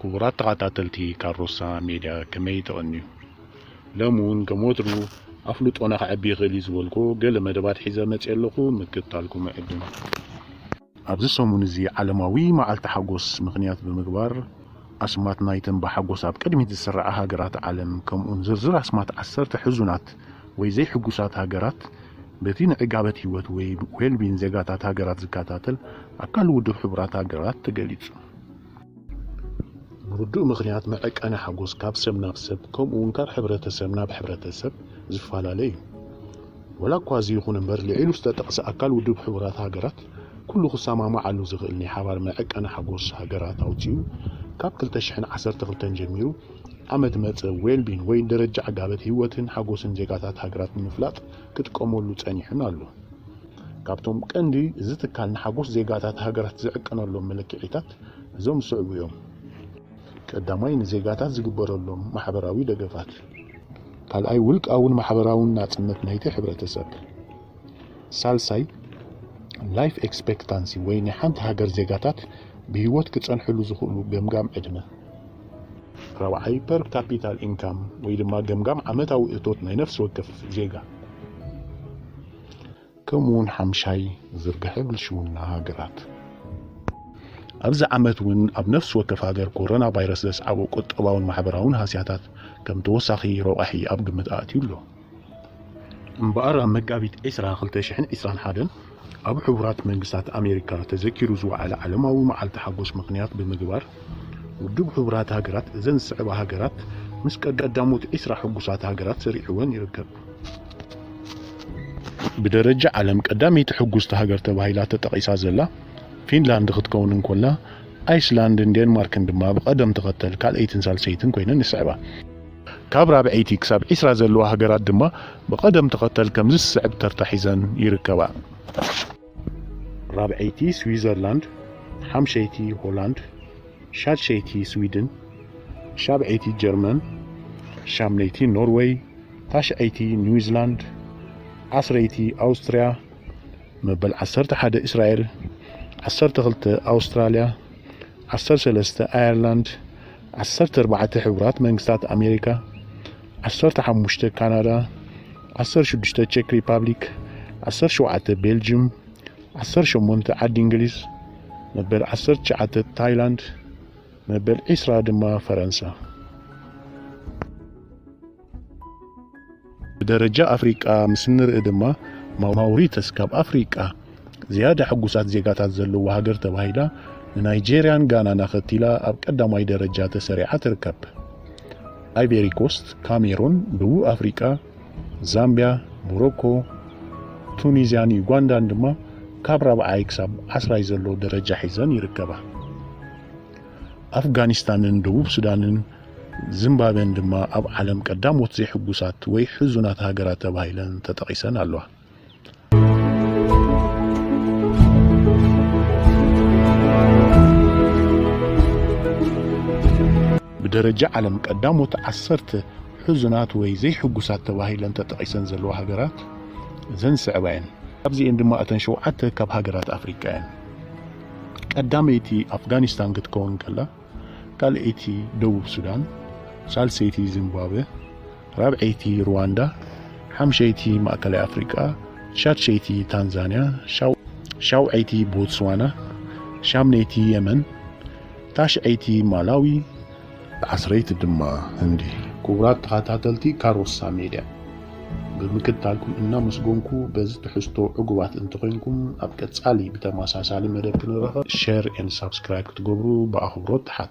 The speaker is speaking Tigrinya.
ክቡራት ተኻታተልቲ ካሮሳ ሜድያ ከመይ ተቐንዩ ሎሚ ውን ከም ወትሩ ኣፍልጦና ከዕቢ ይኽእል እዩ ዝበልኩዎ ገለ መደባት ሒዘ መጽየ ኣለኹ ምክትታልኩም እዕድም። ኣብዚ ሰሙን እዚ ዓለማዊ መዓልቲ ሓጎስ ምኽንያት ብምግባር ኣስማት ናይተን ብሓጎስ ኣብ ቅድሚት ዝስርዓ ሃገራት ዓለም ከምኡውን ዝርዝር ኣስማት ዓሰርተ ሕዙናት ወይ ዘይሕጉሳት ሃገራት በቲ ንዕጋበት ህይወት ወይ ዌልቢን ዜጋታት ሃገራት ዝከታተል ኣካል ውድብ ሕቡራት ሃገራት ተገሊጹ። ብርዱእ ምኽንያት መዐቀኒ ሓጎስ ካብ ሰብ ናብ ሰብ ከምኡ ውን ካብ ሕብረተሰብ ናብ ሕብረተሰብ ዝፈላለ እዩ። ወላ እኳ እዚ ይኹን እምበር ልዒሉ ዝተጠቕሰ ኣካል ውድብ ሕቡራት ሃገራት ኩሉ ክሰማማዓሉ ዝኽእል ናይ ሓባር መዐቀኒ ሓጎስ ሃገራት ኣውጺኡ ካብ ክልተ ሽሕን ዓሰርተ ክልተን ጀሚሩ ዓመት መጸ ዌልቢን ወይ ደረጃ ዕጋበት ህይወትን ሓጎስን ዜጋታት ሃገራት ንምፍላጥ ክጥቀመሉ ጸኒሑን ኣሎን። ካብቶም ቀንዲ እዚ ትካል ንሓጎስ ዜጋታት ሃገራት ዝዕቀነሎም መለክዒታት እዞም ዝስዕቡ እዮም። ቀዳማይ ንዜጋታት ዝግበረሎም ማሕበራዊ ደገፋት። ካልኣይ ውልቃውን ማሕበራውን ናጽነት ናይቲ ሕብረተሰብ። ሳልሳይ ላይፍ ኤክስፔክታንሲ ወይ ናይ ሓንቲ ሃገር ዜጋታት ብህይወት ክጸንሕሉ ዝኽእሉ ገምጋም ዕድመ። ራብዓይ ፐር ካፒታል ኢንካም ወይ ድማ ገምጋም ዓመታዊ እቶት ናይ ነፍሲ ወከፍ ዜጋ። ከምኡውን ሓምሻይ ዝርግሐ ብልሽውና ሃገራት። ኣብዚ ዓመት እውን ኣብ ነፍሲ ወከፍ ሃገር ኮሮና ቫይረስ ዘስዓቦ ቁጠባውን ማሕበራውን ሃስያታት ከም ተወሳኺ ረቛሒ ኣብ ግምት ኣእትዩ ኣሎ። እምበኣር ኣብ መጋቢት ዕስራ ክልተ ሽሕን ዕስራን ሓደን ኣብ ሕቡራት መንግስታት ኣሜሪካ ተዘኪሩ ዝወዓለ ዓለማዊ መዓልቲ ሓጎስ ምኽንያት ብምግባር ውድብ ሕቡራት ሃገራት እዘን ዝስዕባ ሃገራት ምስ ቀዳሞት ዕስራ ሕጉሳት ሃገራት ሰሪዑወን ይርከብ። ብደረጃ ዓለም ቀዳመይቲ ሕጉስቲ ሃገር ተባሂላ ተጠቒሳ ዘላ ፊንላንድ ክትከውን እንኮላ፣ ኣይስላንድን ዴንማርክን ድማ ብቐደም ተኸተል ካልኣይትን ሳልሰይትን ኮይነን ይስዕባ። ካብ ራብዐይቲ ክሳብ ዕስራ ዘለዋ ሃገራት ድማ ብቐደም ተኸተል ከምዚ ዝስዕብ ተርታ ሒዘን ይርከባ። ራብዐይቲ ስዊዘርላንድ ሓምሸይቲ ሆላንድ ሻድሸይቲ ስዊድን ሻብዐይቲ ጀርመን ሻምነይቲ ኖርወይ ታሽዐይቲ ኒውዚላንድ ዓስረይቲ ኣውስትርያ መበል ዓሰርተ ሓደ እስራኤል ዓሰርተ ክልተ ኣውስትራልያ ዓሰርተ ሰለስተ ኣየርላንድ ዓሰርተ ኣርባዕተ ሕቡራት መንግስታት ኣሜሪካ ዓሰርተ ሓሙሽተ ካናዳ፣ ዓሰርተ ሽዱሽተ ቸክ ሪፓብሊክ፣ ዓሰርተ ሸውዓተ ቤልጅም፣ ዓሰርተ ሸሞንተ ዓዲ እንግሊዝ፣ መበል ዓሰርተ ትሽዓተ ታይላንድ፣ መበል ዒስራ ድማ ፈረንሳ። ብደረጃ ኣፍሪቃ ምስ እንርኢ ድማ ማውሪተስ ካብ ኣፍሪቃ ዝያዳ ሕጉሳት ዜጋታት ዘለዋ ሃገር ተባሂላ ንናይጀርያን ጋናን ኣኸቲላ ኣብ ቀዳማይ ደረጃ ተሰሪዓ ትርከብ። ኣይቬሪኮስት፣ ካሜሩን፣ ደቡብ ኣፍሪቃ፣ ዛምቢያ፣ ሞሮኮ፣ ቱኒዝያን ዩጋንዳን ድማ ካብ ራብዓይ ክሳብ ዓስራይ ዘሎ ደረጃ ሒዘን ይርከባ። ኣፍጋኒስታንን ደቡብ ሱዳንን ዚምባብዌን ድማ ኣብ ዓለም ቀዳሞት ዘይሕጉሳት ወይ ሕዙናት ሃገራት ተባሂለን ተጠቒሰን ኣለዋ። ብደረጃ ዓለም ቀዳሞት ዓሰርተ ሕዙናት ወይ ዘይሕጉሳት ተባሂለን ተጠቒሰን ዘለዋ ሃገራት እዘን ዝስዕባ እየን። ካብዚኤን ድማ እተን ሸውዓተ ካብ ሃገራት ኣፍሪቃ እየን። ቀዳመይቲ ኣፍጋኒስታን ክትከውን ከላ፣ ካልኣይቲ ደቡብ ሱዳን፣ ሳልሰይቲ ዚምባብወ፣ ራብዐይቲ ሩዋንዳ፣ ሓምሸይቲ ማእከላይ ኣፍሪቃ፣ ሻድሸይቲ ታንዛንያ፣ ሻውዐይቲ ቦትስዋና፣ ሻምነይቲ የመን፣ ታሽዐይቲ ማላዊ፣ ዓስረይቲ ድማ ህንዲ። ክቡራት ተኸታተልቲ ካሮሳ ሜድያ! ብምክትታልኩም እናመስጎንኩ በዚ ትሕዝቶ ዕጉባት እንተኾይንኩም ኣብ ቀጻሊ ብተመሳሳሊ መደብ ክንራኸብ ሸር ኤንድ ሳብስክራይብ ክትገብሩ ብኣኽብሮት ትሓቱ።